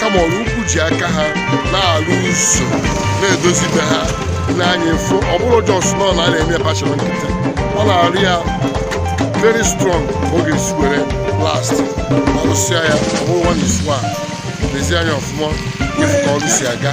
kama Ọraukwu ji aka ha na-arụ ụzọ na-edozi be ha i nee anya ị fụ ọ bụrọ just nọ na a na-eme patchwork nkịtị ọ na-arụ ya very strong ka ọ ga-esi were last ma rụsịa ya ọ bụrụ nwa na isu a lezie anya ọfụma ị fụ ka ọrụ si aga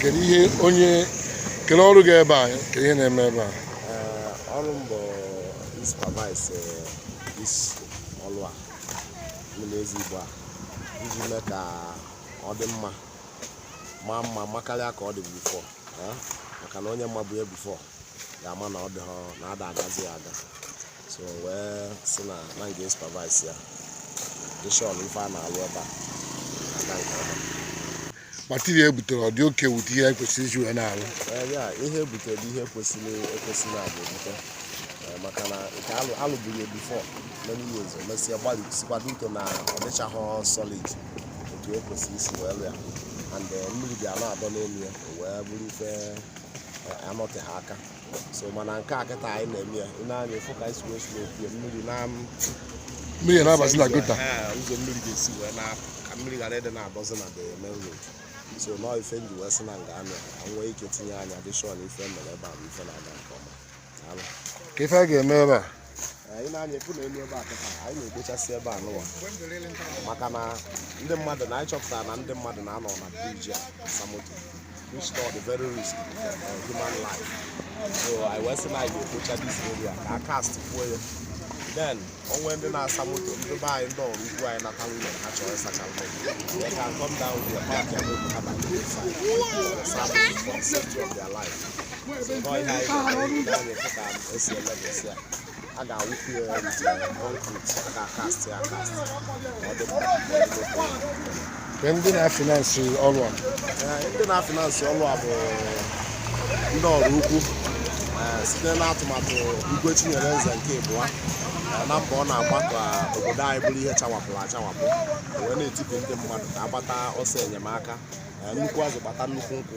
kedu ihe onye kedu ọrụ gị ebe a kedu ihe ị na-eme ebe a ọrụ m bụ ịsupervise ọrụ a mmiri Ezigbo a iji mee ka ọ dị mma maa mma makarịa ka ọ dị before maka na onye mabu ya before ga-ama na ọ dị na ada agazi ya aga so wee sị na na m ga-esupervise ya dị sure na ife a na-alụ ebe a aga nke ọma material e butere ọ dị okay e bute ihe kwesịrị iji wee na-alụ Ee, ya ihe e bute bụ ihe kwesịrị ekwesị na a ga-ebute Ee, maka na nke a lụ a lụburu ya before many years o mesịa gbalisikwa due to na ọ dịchaghị solid otu o kwesịrị isi wee lụ ya and eh, mmiri bịa na-adọ n'elu ya o wee bụrụ ife eh, anọteghị aka so mana nke a kịta anyị na-eme ya i nee anya ị fụ ka anyị si wee slope mmiri na mmiri na-abazi na gutter Ee, ụzọ mmiri ga-esi wee na-apụ ka mmiri ghara ịdị na-adọzi na the main road so nọọ ife m ji wee sị na m ga-anọ ya ka m nwee ike tinye anya dị sure na ife e mere ebe a bụ ife na-aga nke ọma Daalụ. ka ife a ga-eme ebe a anyị nee anya ị fụ na elu ebe a kịta anyị na-ekpochasị ebe a nụwa maka na ndị mmadụ na anyị chọpụtara na ndị mmadụ na-anọ na briji a asa moto which is the very risk of human life so anyị wee sị na anyị ga-ekpocha this area ka a kastkwuo ya then o nwee ndị na-asa moto ndị be anyị ndị Ọraukwu anyị nata ụlọ ha chọrọ ịsacha moto they can come down there park eh moto ha banye inside sa moto for the safety of their life a ga-awụpụ ya concrete a ga-akastị ya akastị ọ dị mma Kee ndị na-afinansị ọrụ a Ee, ndị na-afinansị ọrụ a bụ ndị Ọraukwu ee, site n'atụmatụ Igwe Chinyereze nke ịbụa ee, na mbọ ọ na-agba ka obodo anyị bụrụ ihe chawapụrụ achawapụ wee na-etiku ndị mmadụ ka a gbata ọsọ enyemaka ee, nnukwu azụ kpata nnukwu nkụ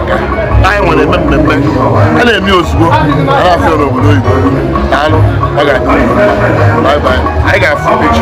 anyị nwere eme mmemme a na-eme ozugbo a na-afụ ya n'obodo oyibo daalụ ọ ga-adị anyị ga-afụ ụbọchị